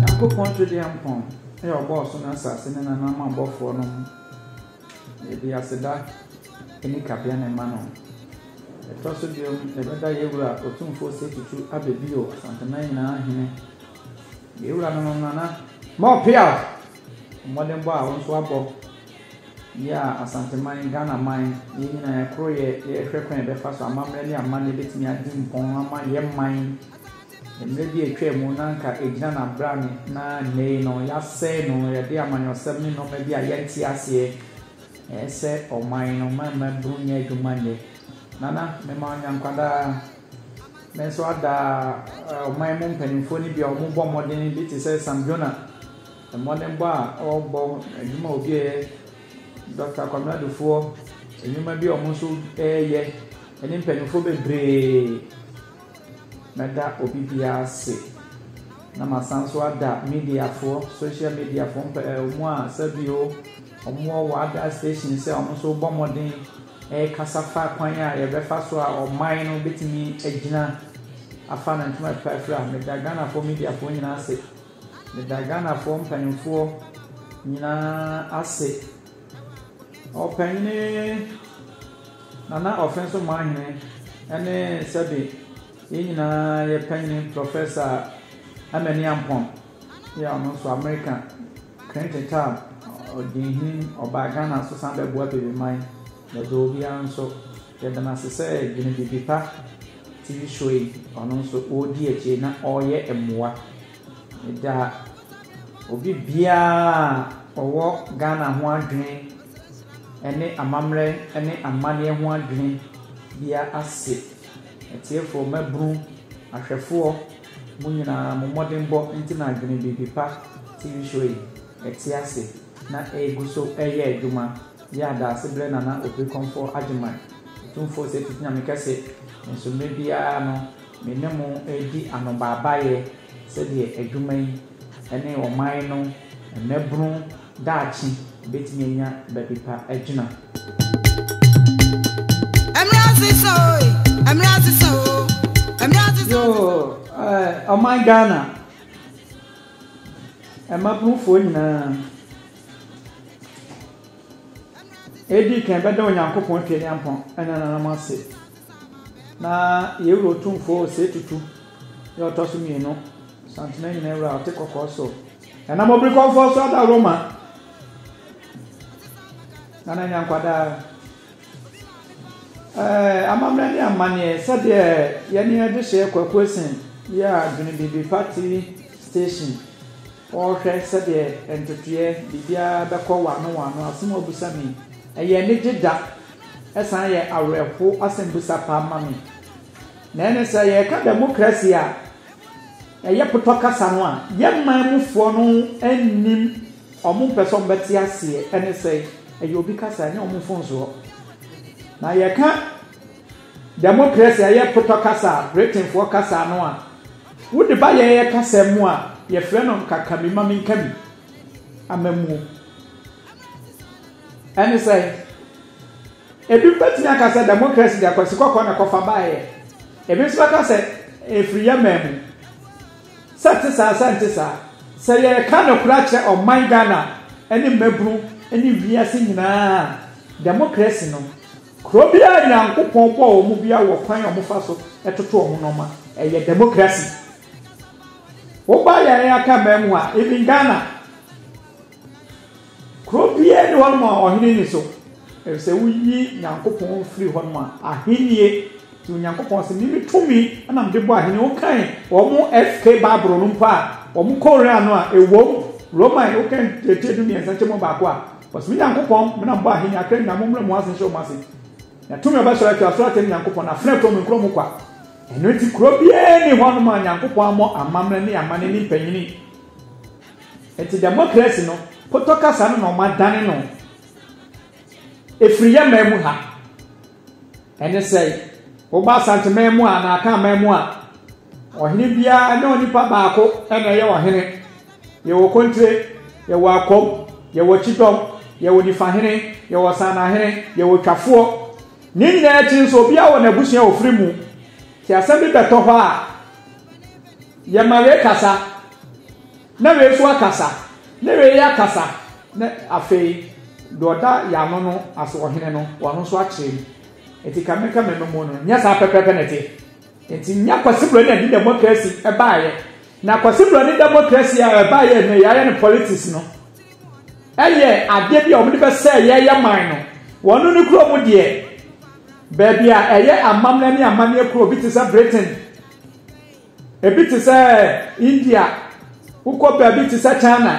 Nyankopɔn Twedeampɔn a ɔbɔɔ soro ne asase ne nananom abɔfoɔ no ho Yɛde aseda ne kabeane ma no Ɛtɔ so biom yɛbɛda yɛ Wura Otumfoɔ Osei Tutu abɛ bio Asanteman nyinaa Hene Yɛ Wuranom Nana More Piawh Mmɔdenbɔ a wo nso wabɔ Yɛ a Asanteman, Ghanaman, yɛn nyinaa yɛakoro yɛ, yɛrehwɛ kwan a yɛbɛfa so amammerɛ ne amanne bɛtumi adi mpɔn ama yɛn man. Mmerɛ bi a atwaa mu no na anka ɛgyina n'abrane na nnɛ yi no yɛasɛe no, yɛde amanyɔsɛm ne nnoɔma bi a yɛnte aseɛ ɛsɛ ɔman no ma mmabunu nyɛ adwuma nyɛ. Nana, mema wo Nyankwadaa. Me nso ada ɔman mu mpanimfoɔ no bi a wɔbɔ mmɔden bi te sɛ Sam Jonah. Mmɔdenbɔ a wɔbɔ, adwuma a obi reyɛ, dɔkta Kwame Adufuɔ, nnwuma bi a wɔn nso reyɛ ne mpanimfoɔ bebree. Mɛda obi biara ase, na masan nso ada mediafoɔ, social mediafoɔ mpa ɛɛ wɔn a sɛbio wɔwɔ wɔn other stations a wɔn nso rebɔ mmɔden rekasa fa kwan a wɔbɛfa so a ɔman no bɛtumi agyina afa ne ntoma pɛ afiri a. Meda Ghanafoɔ mediafoɔ nyinaa ase. Meda Ghanafoɔ mpaninfoɔ nyinaa ase. Ɔpanyini Nana Ɔfɛnso Mahene ɛne sɛbe yɛn nyinaa yɛ panyini Prɔfɛsa Amani Ampɔn yɛ a ɔno nso Amerika Clinton Tab ɔdinhene ɔbaa Ghana nso san bɛboa Bebeman. Na berɛ obiara nso yɛda no ase sɛ Dwene Biribi Pa TV show yi, ɔno nso ɔredi akyire na ɔreyɛ mmoa. Meda obi biara a ɔwɔ Ghana ho adwene ɛne amammerɛ ɛne amanneɛ ho adwene biara ase. Atiefoɔ, mmabunu, ahwɛfoɔ, mo nyinaa mo mmɔdenbɔ nti na Dwene Biribi Pa TV show yi ɛte ase na ɛregu so ɛreyɛ adwuma. Yɛ adaase brɛ Nana Oprikɔmfoɔ Agyeman, Otumfoɔ Ɔsɛe Tete Nyame Kɛse, nanso mmerɛ biara no me ne mo redi anobaabaeɛ sɛdeɛ adwuma yi ne ɔman no mmɛbunu daakye bɛtumi anya baabi pa agyina. Yoo eh, ɔman Ghana, mmabunu foɔ nyinaa. Edi kan, bɛda Onyankopɔn Tweaduampɔn ne Nananom ase, na yɛn Wura Otumfoɔ Osei Tutu yɛ ɔtɔ so mmienu Santene nyinaa Wura a ɔte kɔkɔɔ so. Ɛnam obirikɔmfoɔ so ada Roma, na na anya nkwadaa. Ɛɛ, amammerɛ ne amanneɛ sɛdeɛ yɛne yɛde hyɛ kwakuo sen yɛ a dwene biribi pati station. Wɔrehwɛ sɛdeɛ nteteɛ biribiara bɛkɔ wɔano wɔano asɛm a wɔbisa me yi, ɛyɛ anigye da, ɛsan yɛ awerɛhow asɛmbisa paa ma me. Na ɛne sɛ, yɛreka dɛmokrasi a, ɛyɛ potɔ kasa no a, yɛn man mufoɔ no nnim, wɔmpɛ sɛ wɔbɛte aseɛ, ɛne sɛ, ɛyɛ obi kasa, ɛnyɛ wɔn mfomsoɔ. Na yɛka dɛmokrasi a, ɛyɛ potɔ kasa a, Britainfoɔ kasa no a, Wo de ba yɛn kasa mu a, yɛfrɛ no nkakami ma menkami, amamuo. Ɛne sɛ, ebi bɛtumi aka sɛ democracy de akwasi kɔkɔɔ na kɔfa baeɛ. Ebi nso bɛka sɛ ɛfiri yɛ man mu. Sɛ ɛte saa sɛ ɛnte saa, sɛ yɛreka nokorɛ akyerɛ ɔman Ghana ne mmabunu ne wiase nyinaa a, democracy no, Kuro biara Nyankopɔn bɔɔ wɔn mu biara wɔ kwan a wɔn fa so toto wɔn nnoɔma ɛyɛ democracy wo ba yɛn aka mmaa mu a even Ghana kuro biara ni hɔ nom a ɔhene ni so ɛfisɛ woyi Nyankopɔn firi hɔ nom a ahennie Nti Onyankopɔn se, Me me tumi na mede bɔ ahene. Wokan wɔn SK Bible no mpo a, wɔn Koran no a, ewom, Roman, wokan Tiatia du mmiɛnsa kyɛ mu baako a, wɔse, Me Nyankopɔn, me na mebɔ ahene, akra nyinaa mo mmra mu ase nhyɛ wɔn ase. Na tumi a ɔbɛsɔre atia soro atia me Nyankopɔn, na afena kuro me nkuro mu kwa. Ɛno nti kuro biara nni hɔ nom a Nyankopɔn ammɔ amammerɛ ne amanne ne mpanyini. Nti demokrasi no, potɔ kasa no na wɔadane no, efiri yɛn man mu ha. Ɛne sɛ, woba Asanteman mu a, anaa Akanman mu a, ɔhene biara ɛnyɛ onipa baako ɛna ɛyɛ ɔhene. Yɛwɔ Kontire, yɛwɔ Akom, yɛwɔ Kyidɔm, yɛwɔ Nifahene, yɛwɔ Sanahene, yɛwɔ Twafoɔ. Ne nyinaa akyi nso, obiara wɔ n'abusua a ɔfiri mu. Nti asɛm bi bɛtɔ hɔ a, yɛma yɛkasa. Na wei so akasa, na wei akasa, na afei deɛ ɔda yɛn ano no ase, ɔhene no, ɔno nso akyerɛ mu. Nti ka me ka me mma mu no, nyɛ saa pɛpɛɛpɛ na ɛteɛ. Nti nya Kwasi Broni de democracy baeɛ. Na Kwasi Broni democracy a ɛbaeɛ nnɛ yɛayɛ no politics no, ɛyɛ adeɛ bi a wɔde bɛsɛe yɛyɛ man no. Wɔn ne kuro mu deɛ, baabi a ɛyɛ amammerɛ ne amanneɛ kuro bi te sɛ Britain, Ebi te sɛ India, wokɔ baabi te sɛ China,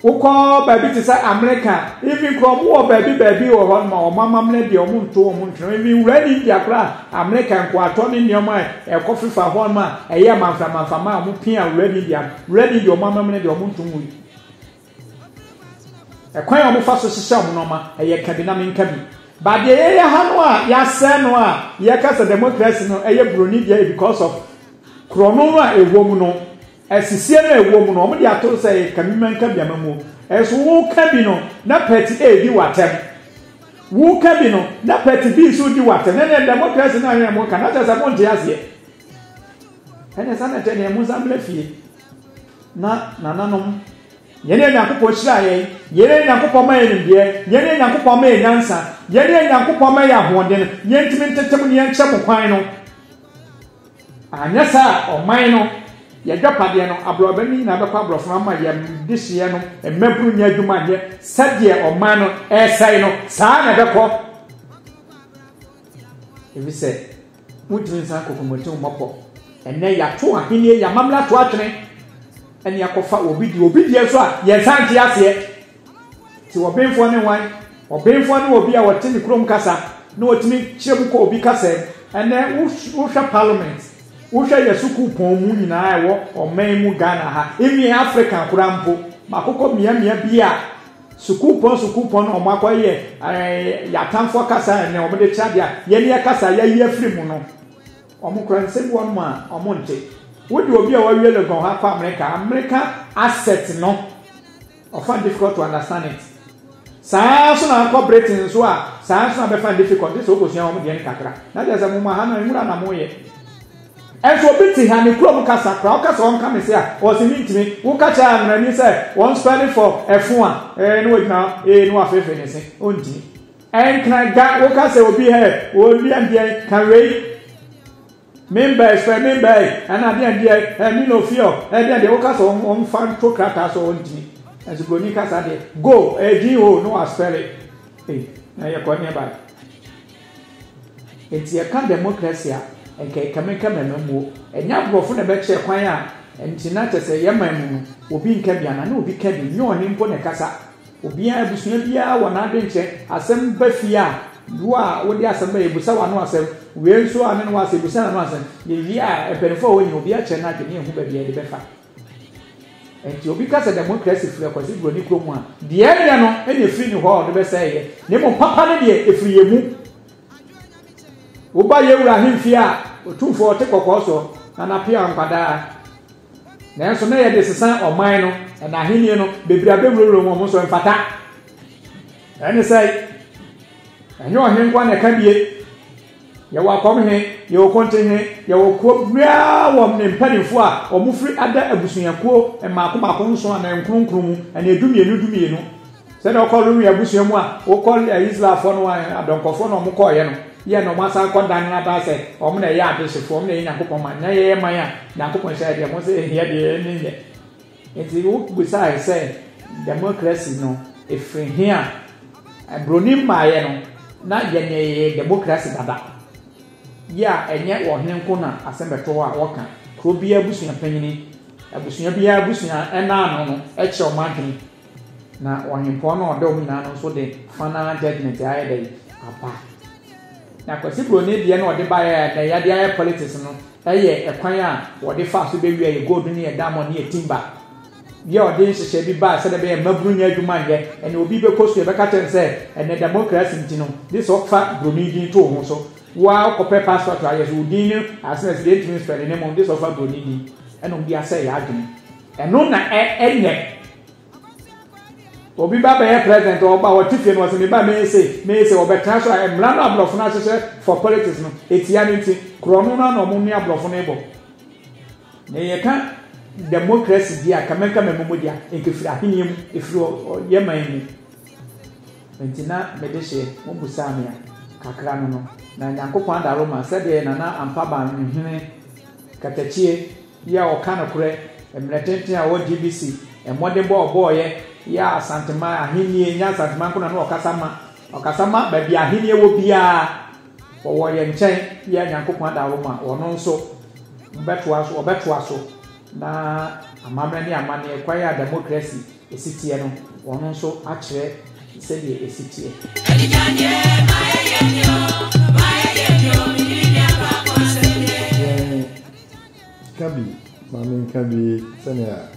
wokɔ baabi te sɛ Amerika, even kora ɔmo wɔ baabi baabi wɔ hɔ ma ɔmo amammerɛ deɛ ɔmo nto ɔmo ntwene, even wura ne India kora Amerika nkoatɔ ne nneɛma a ɛkɔ fefa hɔ ma ɛyɛ manfra manfra ma ɔmo pia wura ne India, wura ne India ɔmo amammerɛ deɛ ɔmo nto ho yi. Ɛkwan a wɔfa so hyehyɛ wɔn nneɛma, ɛyɛ ka bi na menka bi. But deɛ yɛyɛ ha no a, yɛasɛe no a, yɛka sɛ democracy no ɛyɛ buroni deɛ because of korɔno no a ɛwɔ mu no, asisie no a ɛwɔ mu no, wɔn de ato sɛ ɛyɛ ka bi ma nka bi ama mu. Ɛso woka bi no, na party A di w'atɛm. Woka bi no, na party B nso di w'atɛm. Na ɛnɛ democracy no a yɛn mo ka, na kyerɛ sɛ mo nte aseɛ. Ɛnɛ sɛ na ɛtɛ deɛ mo nsa mmerɛ fie. Na nananom, yɛn a Nyankopɔn hyiraa yɛn, yɛn a Nyankopɔn ma yɛn nimdeɛ, yɛn a Nyankopɔn ma yɛn nyansa, yɛn a Nyankopɔn ma yɛn ahoɔden, yɛntumi ntetem ne yɛnkyerɛ mo kwan no. Anyɛ saa a, ɔman no, yɛdwapadeɛ no, aborɔbɛ no nyinaa bɛkɔ aborɔfo no ama yɛn dehyeɛ no, mmabunu nyɛ adwuma nyɛ, sɛdeɛ ɔman no ɛresɛe no, saa ara na ɛbɛkɔ. Ɛfiri sɛ. Wontumi nsan kɔ Komotini Mmɔpɔ. Ɛnnɛ yɛato ahenni, yɛamammerɛ ato atwene, ɛne akɔfa obi deɛ, obi deɛ nso a yɛnsan nte aseɛ. Ti ɔbenfoɔ ne hwan? Ɔbenfoɔ ne obi a ɔte ne kurom kasa na ɔtumi kyerɛ mu kɔ obi kasa mu. Ɛnnɛ wohwɛ Parliament, wohwɛ yɛ sukuu pɔn mu nyinaa ɛwɔ ɔman mu Ghana ha, even Africa koraa mpo, makokɔ mmeammea bi a, Sukuupɔn sukuupɔn na wɔakɔyɛ yɛn atamfoɔ kasa a ɛnɛ wɔde kyerɛ adeɛ a yɛn yɛ kasa a yɛayi afiri mu no. Wɔkura nsɛm bi wɔnom a wɔnte. Wode obi a wawie Legon hɔ akɔ Amerika, Amerika asset no, ɔfa difficult to understand it. Saa ara nso na akɔ Britain nso a, saa ara nso na bɛfa difficult, gye sɛ wokɔsua wɔn deɛ no kakra. Na kyerɛ sɛ mo ma ha no, nwura na moyɛ. Nso obi te ha ne kurom kasa koraa woka sɛ ɔnka me se a ɔse mentumi, woka kyerɛ amerani sɛ wɔn spelling for ɛfo a ee na wagyina hɔ ee na wafeefee ne se ɔntumi. Ɛnkna da woka sɛ obi hɛ oo deɛn deɛn ka wei member ɛspɛ member ee ɛna deɛn deɛn hɛ me no fear hɛ deɛn deɛn woka sɛ ɔmfa nto krataa so ɔntumi. Nso broni kasa deɛ go ee gee oo na waspɛle ee na yɛkɔ neɛbae. Enti yɛka democracy a, nka ɛkame ka mɛma mu o. Ɛnyɛ aborɔfo na ɛbɛkyerɛ kwan a nti na kyerɛ sɛ yɛn man mu no, obi nka bi anaa na obi ka bi, nyɛ ɔhene mpo na ɛkasa. Obiara, abusua biara wɔ n'adwenkyerɛ. Asɛm ba fie a, wo a wode asɛm ba, yɛbisa w'ano asɛm. Wei nso a ɔne no wɔ asɛm, yɛbisa n'ano asɛm. Yɛwie a, mpanyimfo a wɔwɔ nyinaa, obiara kyerɛ n'adwene na yɛhu baabi a yɛde bɛfa. Enti obi ka sɛ demokrasi firi Akwasi Buroni kuro mu a, deɛ ɛnyɛ no na ɛfiri ne hɔ a ɔde bɛsɛe yɛ, na mmom papa no deɛ ɛfiri yɛn mu. Woba yɛn wura ahemfie a, otumfoɔ ɔte kɔkɔɔ soɔ, na n'apea nkwa daa. Nanso na yɛde sesa ɔman no, na n'ahennie no, bebree abɛwurawura mu, wɔn nso ɛmfata. Ɛne sɛ, ɛnyɛ ɔhene nko ara na ɛka bie. Yɛwɔ akɔm he, yɛwɔ konte he, yɛwɔ kuom biaa wɔ ne mpaninfoɔ a wɔfiri ada abusuakuo mmaako mmaako nson anaa nkron nkron mu anaa du mmienu du mmienu. Sɛdeɛ wokɔ Lewi abusua mu a wokɔ Israelfoɔ no adɔnkɔfoɔ na wɔkɔɔeɛ no, yɛ na wɔasan kɔ dan no aba sɛ wɔn na ɛyɛ adehyefoɔ, wɔn na ɛyɛ Nyankopɔn man. Na yɛyɛ man a Nyankopɔn hyɛɛ deɛ mo sɛ hia deɛ ne nyɛ. Ntsi wobisae sɛ, Democracy no, efir hen a? Mbroni mu baayɛ no, na yɛnyɛɛ democracy dada. Yi a nnyɛ wɔ hen nko na asɛm bɛtɔ hɔ a wɔkã. Kurow biara ebusua panyin, ebusua biara ebusua nã ano no kyerɛ hom adwen, na ɔhempɔn no a ɔda hom nyina ano no so de fa nã judgement ayɛ dɛn? Aba. Na Kwesi Broni deɛ na ɔde baeɛ a nnɛ yɛde ayɛ politics no, Ɛyɛ ɛkwan a wɔde faa so bewiaa yɛ gold ne yɛ diamond ne yɛ timber. Yɛ wɔde nhyehyɛe bi bae sɛnea ɛbɛyɛ a mmabunu nnya adwuma nyɛ. Ɛnna obi bɛkɔ sukuu, yɛbɛka akyerɛ no sɛ ɛnnɛ demokrasi nti no, gye sɛ ɔfa buroni din to wo ho so. Wo ara wokɔpɛ passport a, yɛse wo din ne asenasin deɛ yɛntumi nspɛle ne mmom, gye sɛ ɔfa buroni din. Ɛnna wɔde asɛe yɛ adwene. Ɛno na ɛnyɛ. obi ba bɛyɛ president ɔba ɔte fie no ɔsɛ me ba mɛyɛ sei mɛyɛ sei ɔbɛtena so a mmara no aborɔfo no ahyehyɛ for politics no ɛtia no nti korɔno no ana ɔmo ne aborɔfo no bɔ na yɛka democracy di a kama kama mu di a nkefiri ahenni mu efiri ɔyɛ man mu nti na mede hyɛ mo busaa me a kakra no no na nyankopɔn adaro ma sɛdeɛ nana ampa ban hene katakyie Yi a ɔka nokorɛ mmerɛ tenten a ɔwɔ GBC mmɔdenbɔ a ɔbɔeɛ yɛ Asanteman ahennie ɛnyɛ Asanteman nko na na ɔkasa ma ɔkasa ma baabi a ahennie wɔ biara wɔwɔ yɛn nkyɛn yi a Nyankopɔn ada wɔ ma wɔn nso mobɛtoa so wɔbɛtoa so na amammerɛ ne amanneɛ kwan a democracy ɛsi teɛ no wɔn nso akyerɛ sɛdeɛ ɛsi teɛ. Ka bi, ma menka bi sɛnea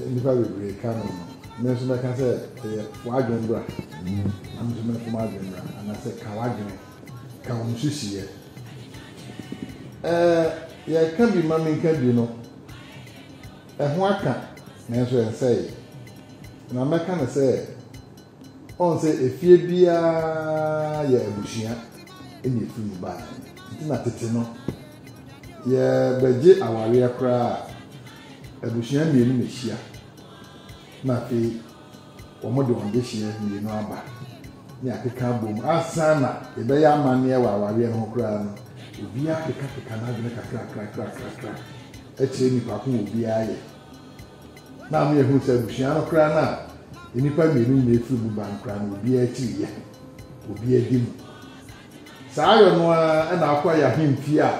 nnipa bebree ka no no, me nso mɛka sɛ ɛyɛ w'adwene bra, na me nso mɛto m'adwene bra, anaasɛ ka w'adwene, ka wo nsusuiɛ. Ɛɛ, yɛka bi ma menka bi no, ɛho aka nanso ɛnsɛe, na mɛka no sɛ Ɔn sɛ efie biaa yɛ abusua na efiri mu baeɛ no nti na tete no yɛ bɛgye awareɛ koraa a abusua mmienu na ehyia na afei wɔn de wɔn dehyeɛ mmienu aba ne akeka abom asan na yɛbɛyɛ amanneɛ wɔ awareɛ no ho koraa no obiaa kekakeka n'adwene kakrakrakrakra akyerɛ nipa ko obiaa yɛ na ama yɛahu sɛ abusua no koraa no a nnipa mmienu nyinaa firi mu ba no koraa no, obiara akyiri yɛ, obiara adi mu. Saa ayɔ no ara na akɔ ayɛ ahemfie a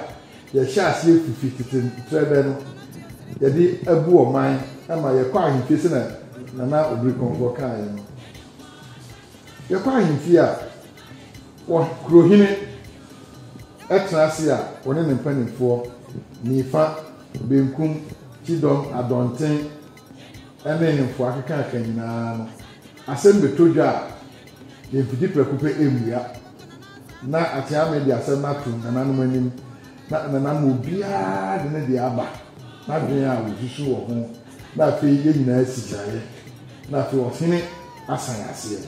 yɛhyɛ aseɛ fifi tete ntrɛbɛ no, yɛde abu ɔman ma yɛkɔ ahemfie sɛnea Nana Obirikɔnfoɔ kaeɛ no. Yɛkɔ ahemfie a, wɔ kurohene tena ase a, wɔne ne mpanimfoɔ, nifa Benkum, Kyidɔm, Adɔnten ne Nhemfo akekaaka nyinaa no, asɛm bɛtɔ dwa a, yɛmfidi prɛko pɛ mmua. Ná Akyeame de asɛm no atom nananom anim, na nananom mu biara de ne deɛ aba, n'adwene a ɔsusu wɔ ho, na afei yɛn nyinaa si gyinaeɛ, na afei ɔhene asan aseɛ.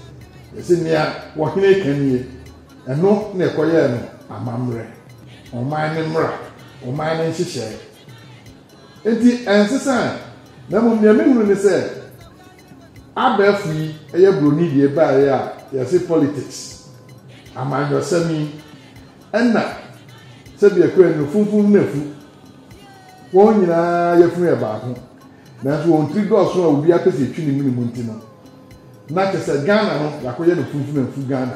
Yɛse nea ɔhene ka nie. Ɛno na ɛkɔyɛɛ no amammerɛ, ɔman no mmara, ɔman no nhyehyɛe. Enti ɛnsesae, na mmom nea mehunu ne sɛ abɛɛfo yi yɛ buroni deɛ baeɛ a yɛse politics, amanyɔsɛm yi, ɛna sɛdeɛ ɛkɔɛ no funfun na afu, wɔn nyinaa yafunu yɛ baako. Nanso wɔn tiri dɔɔso a obiara pɛ sɛ etwi ne mene mu nti no, na kyerɛ sɛ Ghana no, yɛakɔyɛ no funfunamfu Ghana.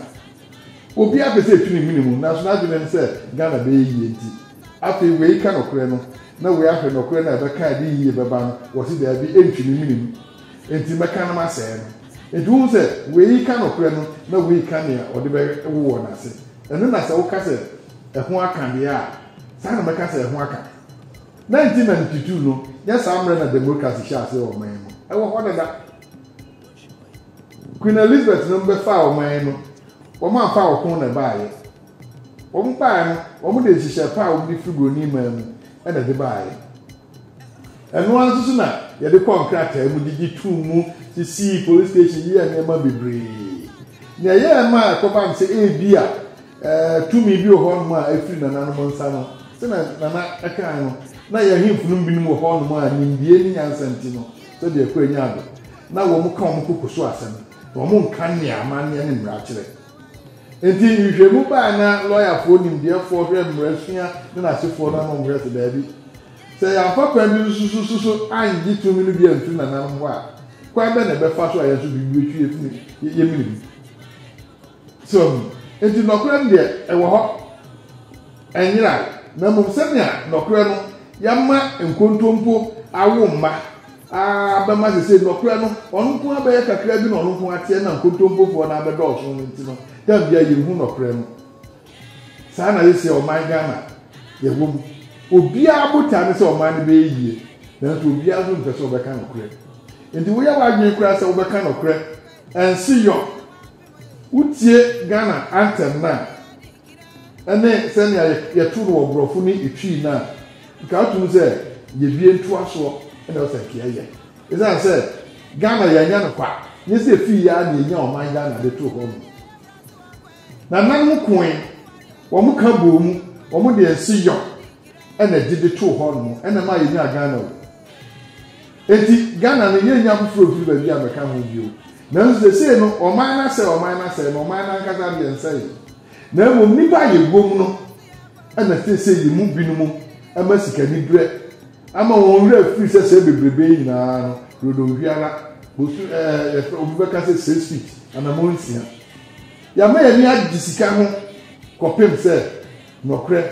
Obiara pɛ sɛ etwi ne mene mu, nanso n'adwene ne sɛ Ghana bɛyɛ yie nti. Afei wei ka nokorɛ no, na wei ahwɛ nokorɛ no a ɛbɛka a ɛde yiyie bɛba no, wɔse daabi, ɛntwi me mene mu, enti mɛka na masɛe no. Enti wohu sɛ wei ka nokorɛ no, na wei ka nea ɔde bɛwowɔ no ase. Ɛno na sɛ woka sɛ ɛho aka deɛ a, saa na mɛka sɛ ɛho aka. Dɛn nti na ntutu no nyɛ saa mmerɛ na demokrasi hyɛɛ aseɛ wɔ ɔman yi mu? Ɛwɔ hɔ dada. Queen Elizabeth nom bɛfaa ɔman yi no, wɔn amfa ɔko na ɛbaeɛ. Wɔn baeɛ no, wɔn de nhyehyɛɛ pa a wɔn de firi buroni man mu na ɛde baeɛ. Ɛno ara nso so na yɛde kɔɔ nkrataa mu de gye too mu, sisii police station, yɛɛ nneɛma bebree. Nea ɛyɛɛ ma ɛkɔba no sɛ ebia Tumi bi wɔ hɔnom a ɛfiri nananom nsa no, sɛdeɛ Nana kaeɛ no, na yɛn ahemfo no mu binom wɔ hɔnom a nimdeɛ ne nyansa nti no, sɛdeɛ Aku Anyaa do, na wɔn ka wɔn koko so asɛm, na wɔn nka nea amanneɛ ne mmara kyerɛ. Enti nhwehwɛmu baa na lɔyafoɔ nimdeɛfoɔ hwɛ mmarasua ne n'asefoɔ no ano wɔn hwɛ sɛ daabi. Sɛ yɛamfa kwan bi nsususu so angye tumi no bi amfiri nananom hɔ a, kwan bɛn na ɛbɛfa so a yɛn nso biribi bɛtwi yɛn fi mu yɛmene mu? So hu? Enti nɔkorɛ no deɛ, ɛwɔ hɔ. Ɛnyera, na mmom sɛnea nɔkorɛ no yɛama nkontompo awo mma ara bɛma sesei nɔkorɛ no ɔno nko ara bɛyɛ kakra bi na ɔno nko ara teɛ na nkontompofoɔ no ara bɛdɔɔso no nti no, da biara yɛnhu nɔkorɛ no. Saa na yɛsɛ ɔman Ghana yɛwɔ mu. Obiara botae ne sɛ ɔman no bɛyɛ yie, nanso obiara nso mpɛ sɛ ɔbɛka nɔkorɛ. Enti woyɛ w'adwene koraa sɛ wobɛka nɔkorɛ, ɛnseyɔ, Wotie Ghana anthem no a, ɛne sɛnea yɛto no wɔ Borɔfo ne Etwi no a, nka woto mu sɛ yɛbie ntoasoɔ na ɛwɔ sɛ nka yɛyɛ. Ɛsiane sɛ Ghana yɛanya no kwa, nyɛ sɛ ɛfii yɛ ara na yɛnya ɔman Ghana de too hɔ no. Nananom koe, wɔn ka bɔɔ mu, wɔn de nseyɔ na ɛgye de too hɔ no, ɛna ɛmaa yɛnyaa Ghana o. Enti Ghana no yɛnnya foforɔ mfiri baabi ammɛka ho bio. Nanso seesei no ɔman no asɛe, ɔman no asɛe na ɔman no ankasa deɛ nsɛeɛ. Na mmom nnipa a yɛwom no na seesei yɛn mu binom ama sikaniberɛ ama wɔn werɛ afiri sɛ sɛɛ bebrebe yi nyinaa no dodow biara bosu ɛɛ yɛfrɛ obi bɛka sɛ six feet anamɔ nsia. Yɛama yɛn ani agye sika ho kɔpem sɛ nɔkorɛ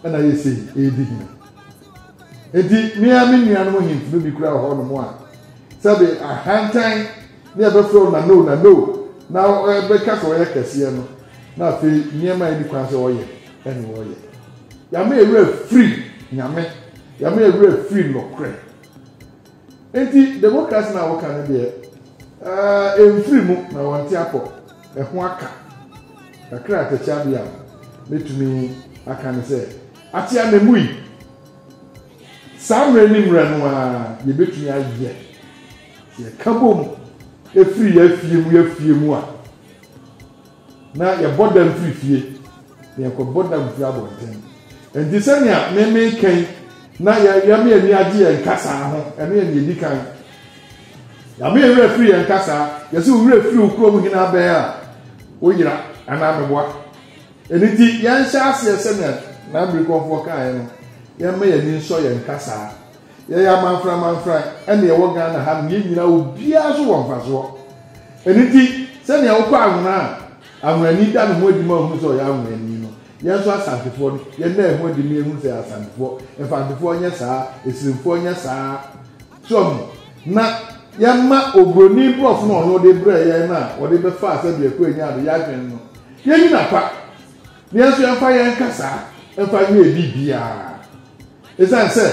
na yɛsei ɛredi hene. Enti, me ara me nuanom ahemfo no bi kura wɔ hɔnom a, sɛbe ahantan ne ɛbɛfrɛ wo Nano, Nano, na ɛbɛka sɛ ɔyɛ kɛseɛ no, na afei nneɛma a ɛni kwan sɛ ɔyɛ ɛne ɔyɛ. Yɛama yɛn werɛ afiri Nyame, yɛama yɛn werɛ afiri nokorɛ. Enti, demokrase no a woka no deɛ, eh, ɛmfiri mu na wɔnte apɔ, ɛho aka. Kakra a atɛkyɛ adeɛ a mɛtumi aka ne sɛ, Ate anamui. Saa mmerɛ ne mmerɛ no ara yɛbɛtumi ayɛ, sɛ yɛka bom firi yɛn afie mu yɛn afie mu a, na yɛbɔ dam firi fie na yɛkɔbɔ dam firi abɔnten. Enti sɛnea me meka yi na yɛama yɛn ani agye yɛn kasaa ho, ɛno yɛ nea ɛdi kan. Yɛama yɛn werɛ firi yɛn kasaa, yɛsɛ wo werɛ firi wo kurom hene abɛn a, woyera anaa meboa. Ɛno nti, yɛnhyɛ aseɛ sɛnea n'abrikɔfoɔ kaeɛ no, yɛmma yɛn ani nsɔ yɛn kasaa. Yɛyɛ amanfranmanfran ɛna yɛwɔ Ghana ha nom, yɛn nyinaa obiara so wɔ mfasoɔ. Ɛno nti, sɛnea wokɔ Anwena a Anwenani da ne ho adi ma wohunu sɛ ɔyɛ Anwenani no, yɛn nso Asantefoɔ no, yɛnna yɛn ho adi ma yɛhunu sɛ yɛyɛ Asantefoɔ. Mfantefoɔ nyɛ saa, Asirimfoɔ nyɛ saa. So ahu? Na yɛmma Oburoni Borɔfo no a ɔno ɔde brɛɛ yɛn no a ɔde bɛfaa sɛdeɛ Akua nyaa no, yɛadwene no. Yɛnyi no apa, nanso yɛmfa yɛn kasa mfa nyɛ biribiara. Esiane sɛ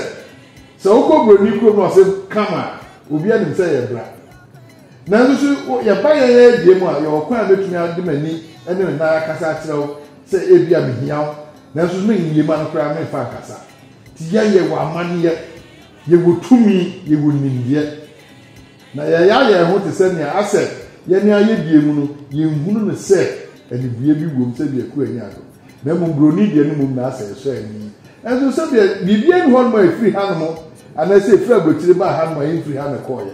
sɛ wokɔ buroni kurom na ɔse come a, obiara nim sɛ yɛ bra. Nanso so yɛba yɛn adie mu a, yɛwɔ kwan a mɛtumi ade m'ani ne me nan akasa akyerɛ wo sɛ ebia mehia wo, nanso so menwie ma no koraa memfa nkasa. Nti yɛn yɛwɔ amanneɛ, yɛwɔ tumi, yɛwɔ nimdeɛ. Na yɛya yɛn ho te sɛ nea asɛ yɛne ayɛdeɛ mu no yɛnhunu no sɛ anibue bi wom sɛdeɛ Kua nyaa no, na mmom buroni deɛ no mmom na asɛ ɛsɔ ani, nanso sɛdeɛ biribiara nni hɔnom a ɛfiri hanom anaasɛ ɛfiri abɔkyire baa hanom a ɛmfiri ha na ɛkɔeɛ.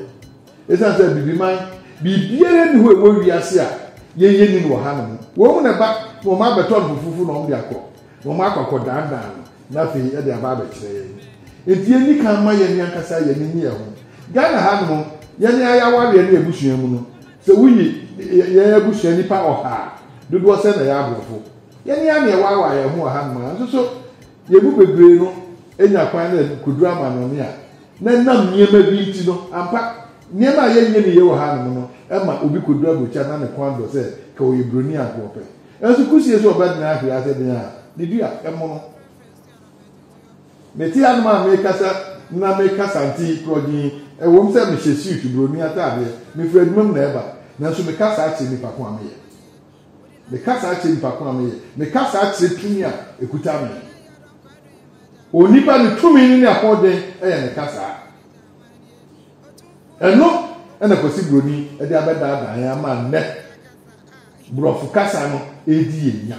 Ɛsiane sɛ abibiman biribiara nni hɔ ɛwɔ wiase a yɛn yɛnnim wɔ hanom, wɔn mu na ɛba na wɔabɛtɔ no fofofo na wɔde akɔ Wɔakɔ akɔdaadaa no, na afei ɛde aba abɛkyerɛ yɛn. Enti yenni kan mma yɛn ankasa yɛn ani nnye ɛho. Ghana hanom, yɛn ara yɛn awareɛ ne abusua mu no, sɛ woyi yɛn abusua nnipa ɔha a, dodoɔ sɛn na ɛyɛ aborɔfo? Yɛn ara na yɛwaawaa yɛn ho wɔ hanom a, nanso so yɛn mu bebree no anya kwan na ɛkɔduru amannɔne a na ɛnam nneɛma bi nti no? Ampa, nneɛma a yɛnyɛ no yie wɔ hanom no ma obi kɔduru aburokyire a na ne kɔn dɔ sɛ nka ɔyɛ Buroni a nka ɔpɛ Nanso Kusie sɛ ɔbɛtena ahwea ase den a ne dua mono. Mete anom a merekasa na me kasante yi korɔ dinn. Ɛwom sɛ mehyɛ siutu buroni ataadeɛ, mefiri adwuma mu na ɛreba, nanso meka saa kyerɛ nnipa ko a meyɛ. Meka saa kyerɛ nnipa ko a meyɛ. Meka saa kyerɛ tumi a ɛkuta me. Onipa, ne tumi no ne ahoɔden yɛ me kasa. Ɛno na Kwasi Buroni de abɛdaadaa yɛn ama nnɛ Borɔfo kasa no redi yɛn nya.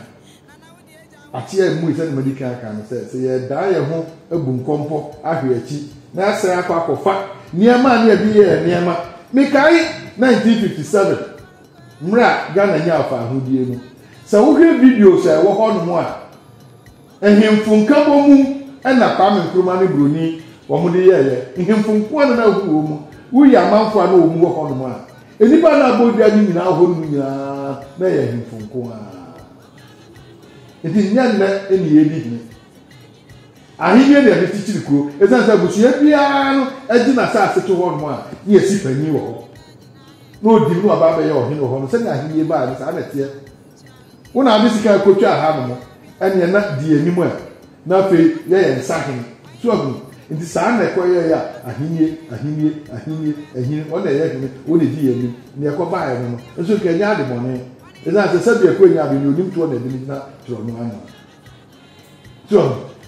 Akyea mmui sɛdeɛ madi kan aka no sɛ, sɛ yɛdan yɛn ho abu nkɔmpɔ ahwe akyi na yɛasan akɔ akɔfa nneɛma a ne yɛde yɛɛ nneɛma. Mekae 1957 mmerɛ a Ghana nyaa ɔfaahodie no. Sɛ wohwɛ videos a ɛwɔ hɔnom a, Nhemfo nkabɔmu na Kwame Nkrumah ne Broni wɔn de yɛɛ yɛ. Nhemfo nkoa na na ahu wɔn mu. Wo yi amanfo a na wɔn wɔ hɔ nom a, nnipa a na abɔ dwa no nyinaa hɔ nom nyinaa na ɛyɛ nhemfo nkoa. Nti nyɛ nnɛ ne yɛredi hene. Ahenni ne ɛde kyekyere kuro. Ɛsiane sɛ abusua biara no gye n'asase to hɔ nom a, ne yɛsi panyin wɔ hɔ. Na ɔdi mu na waba abɛyɛ ɔhene wɔ hɔ nom. Sɛdeɛ ahenni baeɛ no saa na ɛteɛ. Wo na ade sika kotwaa ha nom ɛneɛ na di anim ɛ na afei yɛ yɛn nsa hene so ahu nti saa na ɛkɔ yɛɛ a ahennie ahennie ahennie ahini hɔ na ɛyɛ hene wo na ɛdi yɛn anim neɛ ɛkɔ baeɛ no no nso nka ɛnyɛ ade bɔne ɛsiane sɛ sɛbi ɛkɔ ɛnyɛ ade ne onim toɔ na ɛde ne gyina torɔ no ano so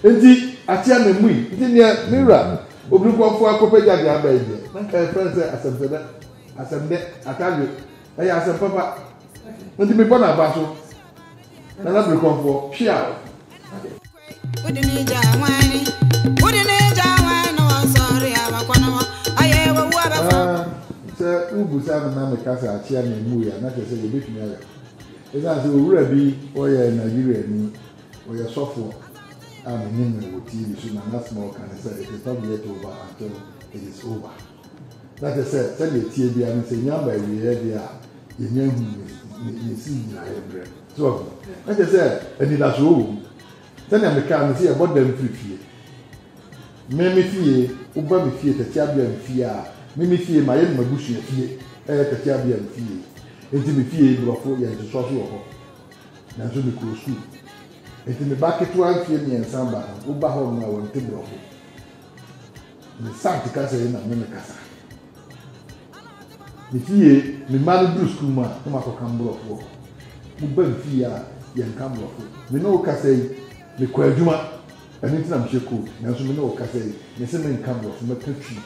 ahu nti ateɛ na mmui nti neɛ me wura obirikɔfoɔ akɔpɛ gyadeɛ aba yi deɛ na nka yɛfrɛ sɛ asɛmsɛdɛ asɛmdɛ atadwe ɛyɛ asɛm papa nti mebɔ no aba so nana birikɔmfoɔ pia wode ne gya wane wode ne gya wane na wɔnsɔre abakɔ no hɔ ayɛ wɔwu abɛfa ah, sɛ wobu saa no na meka sɛ akyea na ɛmu yɛ na kyerɛ sɛ yɛbɛtumi ayɛ ɛsiane sɛ owura bi ɔyɛ nigeria ni ɔyɛ sɔfoɔ a menim no wɔ tv so na nasma ɔka ne sɛ it is not yet over until it is over Na kyerɛ sɛ, sɛdeɛ ɛteɛ biara no, sɛ nnya mmaa awieeɛ deɛ a, yɛnnya nhuu ne, ne, ne si nnyinaeɛ mmerɛ. So wɔahu? Na kyerɛ sɛ, anidasoɔ wɔ mu. Sɛdeɛ mekaa no, sɛ yɛbɔ dam firi fie, me, me fie, woba me fie, Tatiabiam fie a, me, me fie, mayɛ no m'abusua fie, ɛyɛ Tatiabiam fie. Enti me fie yi, Borɔfo, yɛn ntosoa so wɔ hɔ. Nanso mekɔɔ sukuu. Enti me ba ketewa mfeɛ mmiɛnsa ba no, woba hɔnom a, wɔnte Borɔfo. Me sant kasa yi na me me kasa. Me fie, me mma no duru sukuu mu a, na makɔka mborɔfo wɔ hɔ. Moba me fie a, yɛnka mborɔfo. Me ne wo kasa yi, mekɔ adwuma, ɛno nti na mehyɛ coat, nanso me ne wo kasa yi, mese menka mborɔfo, mɛka Twi.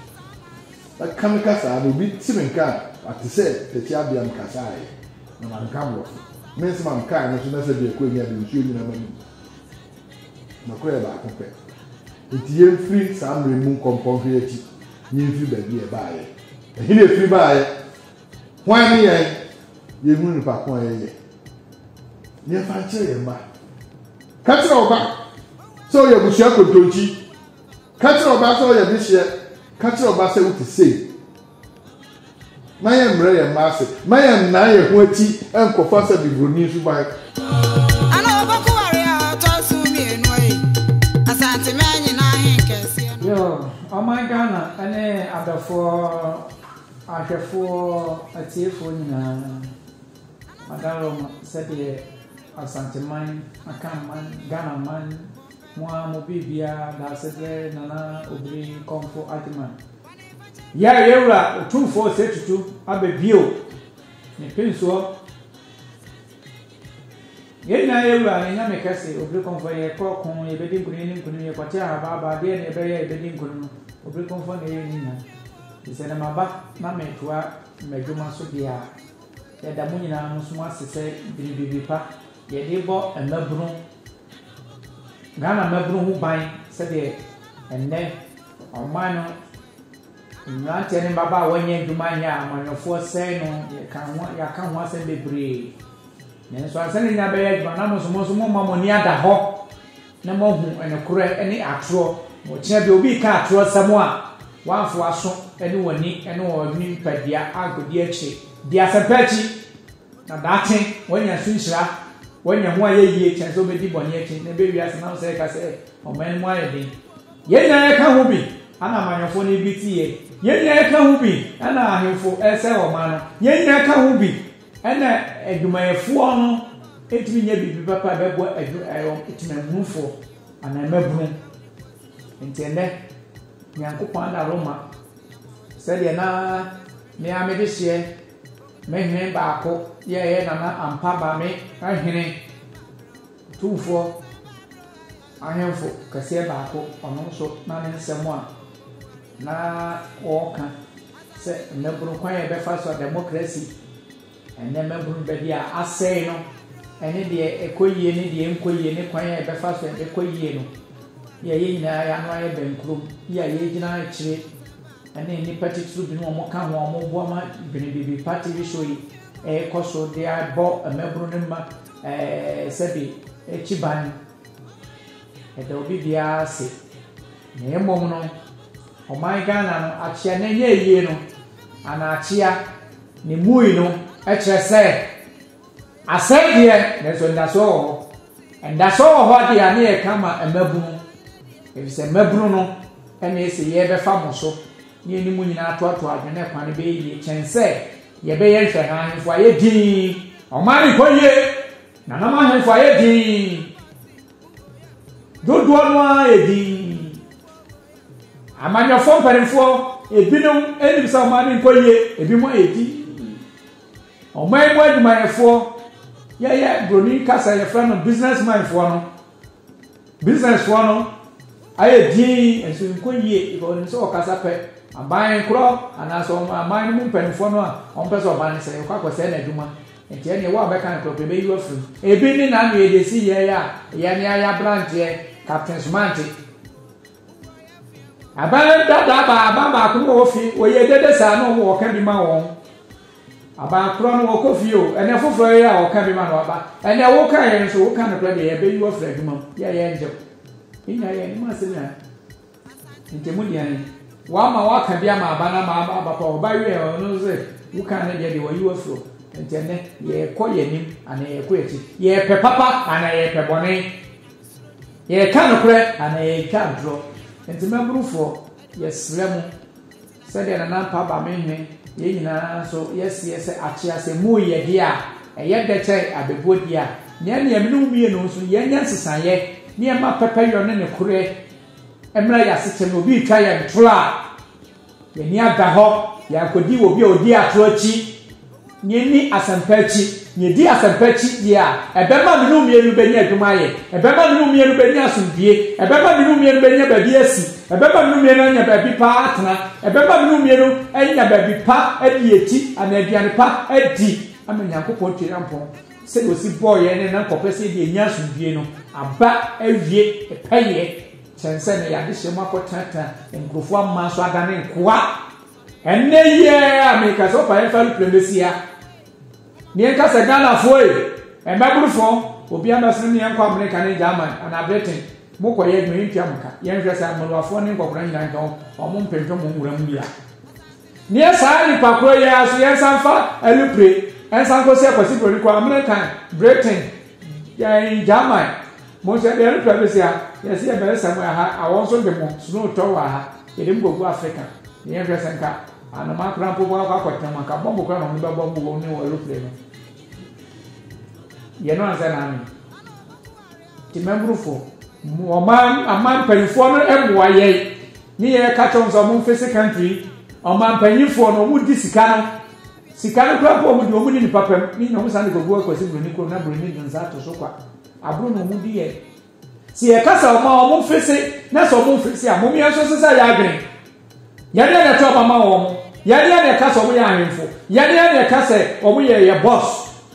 Mɛka me kasa a, na obi te me nka a, wate sɛ Tɛkyi Abea me kasa ɛ, na manka mborɔfo. Me nsɛm a mekaa no nso, na sɛ biako a enya de, nsuo nyina m'anom. Nokorɛ yɛ baako pɛ. Enti yɛmfiri saa mmerɛ yi mu nkɔ mpɔnhwere akyi, na yɛmfiri baabi a yɛbaeɛ. Ɛhe na yɛfiri baeɛ? Hwan ne yɛn? Yɛnhunu nipa ko a yɛyɛ. Na yɛmfa nkyerɛ yɛn mma. Ka kyerɛ wo ba sɛ ɔyɛ abusua kontonkyi. Ka kyerɛ wo ba sɛ ɔyɛ dehyeɛ. Ka kyerɛ wo ba sɛ wote sei. Ma yɛmmrɛ yɛn mma ase. Ma yɛnnan yɛn ho akyi nkɔfa sɛ Bibroni suban. Yoo, ɔman Ghana ne adɔfoɔ, ahwɛfoɔ, atiefoɔ nyinaa, Adaroma, sɛdeɛ Asanteman, Akanman, Ghanaman, mo ara mo biribiara, Daasebrɛ, Nana Obiri, Komfo Agyeman. Yɛ a yɛn Wura Otumfoɔ Osei Tutu aba bio ne pensoɔ. Yɛn nyinaa yɛ Wura yɛn Nyame kɛse, Obirikɔmfoɔ yɛ kɔ ɔko, yɛbɛdi nkunim ne nkunim, yɛ kɔte ahabaaba, adeɛ na yɛbɛyɛ a yɛbɛdi nkunim no, Obirikɔmfoɔ na ɛyɛ ne nyina. Nti sɛ na maba na metoa madwuma so deɛ a, yɛda mo nyinaa mo so mo ase sɛ dwene biribi pa yɛde bɔ mmabunu, Ghana mmabunu ho ban sɛdeɛ ɛnnɛ, Ɔman no mmeranteɛ ne mmabaawa nyɛ adwuma nyɛ a amanyɔfoɔ sɛe no yɛka ho yɛaka ho asɛm bebree nanso ansa ne nyinaa bɛyɛ adwuma na mo nso mo nso momma mo ani ada hɔ na moahu ɛnokorɛ ne atorɔ na ɔkyena bi obi ka atorɔ sɛm a wɔamfo aso ne wɔni ne wɔn nipadua ankɔdi akyire di asɛmpa akyi Na daakye wanya su nhyira, wanya ho ayɛ yie kyɛn sɛ ɔbɛdi bɔne akyi na ɛbɛ wiase nam sɛ ɛka sɛ ɔman no mu ayɛ den. Yɛn nyinaa yɛka ho bi ɛna amanyɔfoɔ no bi teɛ. Yɛn nyinaa yɛka ho bi ɛna ahemfo ɛsɛ ɔman no. Yɛn nyinaa yɛka ho bi ɛna adwumayɛfoɔ no ntumi nyɛ biribi papa ɛbɛboa adwu ɛwɔ temanmunufoɔ anaa mmabunu. Nti ɛnɛ Nyankopɔn ada Roma sɛdeɛ na me ara mede hyeɛ Me hene baako yɛɛ nana ampa ba me hene tumfoɔ ahemfo kɛseɛ baako ɔno nso na ne nsɛm a na ɔreka sɛ mmabunu kwan a ɛbɛfa so a democracy ɛnɛ mmabunu baabi a asɛe no ɛne deɛ ɛkɔ yie ne deɛ ɛnkɔ yie ne kwan a ɛbɛfa so ɛbɛkɔ yie no yɛyɛ nyinaa yɛano ayɛ bɛnkurom yɛ a yɛgyina akyire ne nnipa titiriw binom a wɔka ho a wɔboa ma Dwene Biribi Pa TV show yi rekɔ so de abɔ mmabunu no mma sɛbe akyi ban. Ɛda obi biara ase. Na mmom no, ɔman Ghana no akyea na ɛnyɛ yie no, anaa akyea ne mui no kyerɛ sɛ. Asɛe deɛ, nanso anidasoɔ wɔ hɔ. Anidasoɔ wɔ hɔ deɛ a ne yɛka ma mmabunu, efisɛ mmabunu no na ese yɛbɛfa mo so ne yɛne mo nyinaa atoatoa adwene na kwan no bɛyɛ yie kyɛn sɛ yɛbɛyɛ nhwɛha ahemfo ayɛ dinn, ɔman no nkɔ yie, nananom ahemfo ayɛ dinn, dodoɔ no ara yɛ dinn. Amanyɔfoɔ mpanimfoɔ, ebinom nim sɛ ɔman no nkɔ yie, ebinom ayɛ dinn. Ɔman mu adwumayɛfoɔ, yɛyɛ broni kasa yɛfrɛ no business man foɔ no, business foɔ no ayɛ dinn nso nkɔ yie because wɔnim sɛ wɔkasa pɛ aban korɔ anaasɛ wɔn aman no mu mpanimfoɔ no a wɔn pɛ sɛ ɔban no sɛ yɛkɔ akɔsɛe no adwuma nti ɛneɛ wo a bɛka no korɔ pɛ bɛyi wafiri mu ebi ne na na yɛde si yɛn a yɛne ayɛ abranteɛ captain somante Aban dada ba aban baako mu ofi oyɛ dede saa na ɔmo ɔka bi ma wɔn aban korɔ no ɔkɔ fie o ɛnɛ foforɔ yɛ a ɔka bi ma no aba ɛnɛ woka yɛ nso woka no korɛ deɛ ɛbɛyi wɔ fira adwuma mu yɛ yɛ nkyɛw enya yɛ anim asɛm na ntɛmu deɛ ne wama waka bi ama aba na ma aba aba pa ɔba yɛ ɔno sɛ woka ne deɛ deɛ wɔyi wɔ firi ntɛnɛ yɛkɔ yɛ anim anaa yɛkɔ akyi yɛpɛ papa anaa yɛpɛ bɔne Yɛreka nokorɛ anaa yɛretwa atorɔ? Enti mmabrufoɔ, yɛsrɛ mo, sɛdeɛ Nana Mpa ba me nhwe, yɛn nyinaa nso yɛseɛ sɛ akyease mmu yɛ deɛ a, ɛyɛ dɛ kyɛn abɛbuo deɛ a, na ɛnneɛ me ne wo mmienu nso yɛnyɛ nsesaeɛ na yɛmma pɛpɛyɔ ne nokorɛ mmra yɛn asekyɛm na obi retwa yɛn torɔ a, Yɛani ada hɔ, yɛankɔdi wɔ obi a ɔdi atorɔ akyi, na yɛanni asɛmpa akyi. Na yɛdi asɛmpa akyi deɛ a, ɛbɛma me ne wo mmienu bɛnya adwuma ayɛ, ɛbɛma me ne wo mmienu bɛnya asomdwoeɛ, ɛbɛma me ne wo mmienu bɛnya baabi asi, ɛbɛma me ne wo mmienu anya baabi pa atena, ɛbɛma me ne wo mmienu anya baabi pa adi akyi anaa aduane pa adi ama Nyankopɔn Tweriampɔn sɛdeɛ ɔsi bɔɔ yɛn ne Nankɔpɛ sɛ yɛde anya asomdwoeɛ no aba awie pɛyɛ. Kyɛn sɛ ne yadehyeɛ mu akɔtenatena nkurɔfoɔ aman so adane nkoa. Ɛnnɛ yi ara a meka sɛ ɔpa yɛmfa aeroplane bɛsia ne yɛnka sɛ Ghanafoɔ e, mmɛborofoɔ, obi ammɛsene me yɛnkɔ Amerika ne German anaa Britain mokɔyɛ adwuma yɛntua mo ka. Yɛnhwɛ sɛ Amaloafoɔ ne nkɔkora nyinaa nka wɔn mpempem wɔ nwura mu bi a. Neɛ saa nnipa korɔ yi ara so yɛnsa mfa alupre nsa nkɔsi akwasi buroni kɔ American, Britain, ɛɛn German mo nso yɛde alupre abɛsi ha yɛse yɛbɛsesa mu ɛha a wɔn nso de mo snow tɔ wɔ ha yɛde mo kɔgu Africa na yɛnhwɛ sɛ nka anomaa koraa mpo bɔ akɔ akɔtena mu anka bɔmbo koraa na wɔn bɛbɔ mbo wɔn ne wɔn alupre no yɛno ansɛ na ame Temamurufo, ɔman aman mpanyinfoɔ no mmoa yɛn ne yɛn ka kyɛw sɛ wɔn mfese country ɔman mpanyinfoɔ no wɔn di sika no sika no kura po wɔn di wɔn ne nipa pɛm ne nyina wɔn san de kɔgu akwasi buroni kuro na buroni de nsa ato so kwa aburo na wɔn di yɛn sɛ yɛ kasa ɔman wɔn mfese na sɛ wɔn mfese a wɔn yɛn nso sesa yɛ adwene. Yɛne yɛn na ɛto aba ma wɔn. Yɛne yɛn na ɛka sɛ wɔn yɛ ahemfo. Yɛne yɛn na ɛka sɛ wɔn yɛ yɛ bɔs.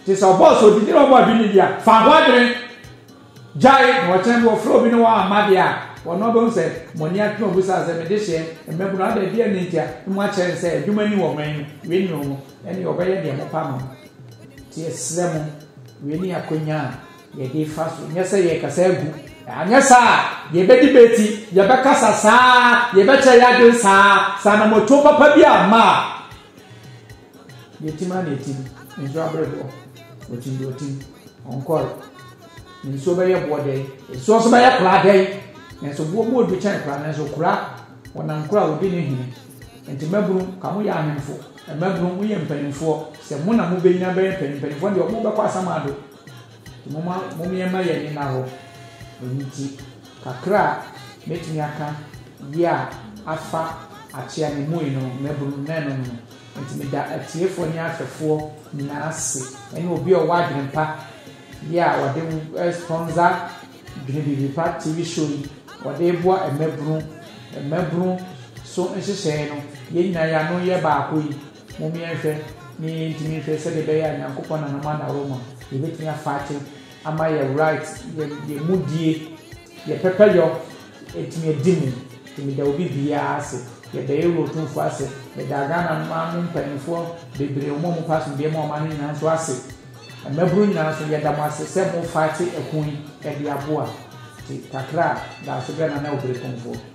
Te sɛ ɔbɔs a odidi na ɔbɔ abi ne dea. Fa ho adwene. Gyae na ɔkyena bi wɔfrɛ obi na wamma deɛ a, wɔn na ɔbɛhu sɛ mo ani agye na obisa sɛ, me dehyeɛ, mmabunu, adɛn, deɛn ne nti a mo akyerɛ no sɛ adwuma ni wɔ man mu? Wei ne wɔn. Ɛneɛ ɔbɛyɛ deɛ mopɛ ama no. Nti yɛsrɛ mo, wei ne akwannya a. Yɛde fa so, nyɛ sɛ yɛrekasa agu. Anyɛ saa a, yɛbɛdibeti, yɛbɛkasa saa, yɛbɛkyerɛ yɛn adwene saa, sɛ anamɔtuo papa bi amma a. Yɛtim ara na yɛtim, nsuo abere boɔ, ɔtim deɛ ɔtim, ɔnkɔre. Nsuo bɛyɛ boɔ dɛn? Nsuo nso bɛyɛ koraa dɛn? Nanso boɔ mu ɔdu kyɛn koraa, nanso koraa, wɔnam koraa wɔdi ne hene. Nti mmabunu, ka mo yɛ ahemfo, mmabunu, mo yɛ mpanimfoɔ, sɛ mo na mobɛnyina bɛyɛ mpanyimpanimfoɔ deɛ, wɔbɛkɔ asamando. Momma mommeɛma yɛn ani nna hɔ. Ɛno nti, kakra a mɛtumi aka yi a afa akyea ne mui no, mmabunu na ɛno no. Enti meda atiefoɔ ne ahwɛfoɔ nyinaa ase, ɛne obi a ɔwɔ adwene pa yi a ɔde sponsor Dwene Biribi Pa TV show yi, ɔde reboa mmabunu, mmabunu so nhyehyɛeɛ no, yɛn nyinaa yɛn ano yɛ baako yi. Mom yɛnhwɛ ne yɛntumi nhwɛ sɛdeɛ ɛbɛyɛ a Nyankopɔn nananom anaworoma yɛbɛtumi afighte ama yɛ right, yɛ yɛ mudie, yɛ pɛpɛyɔ atumi adi mu nti meda obi biaa ase, yɛda Ewura Otumfoɔ ase, meda Ghana man mu mpaninfoɔ bebree wɔn a wɔpa asomdwoeɛ ma ɔman no nyinaa nso ase, mmabunu nyinaa nso yɛda mo ase sɛ mo fighte ɛko yi ɛde aboa nti kakra a daaso brɛ Nana Oberekomfoɔ.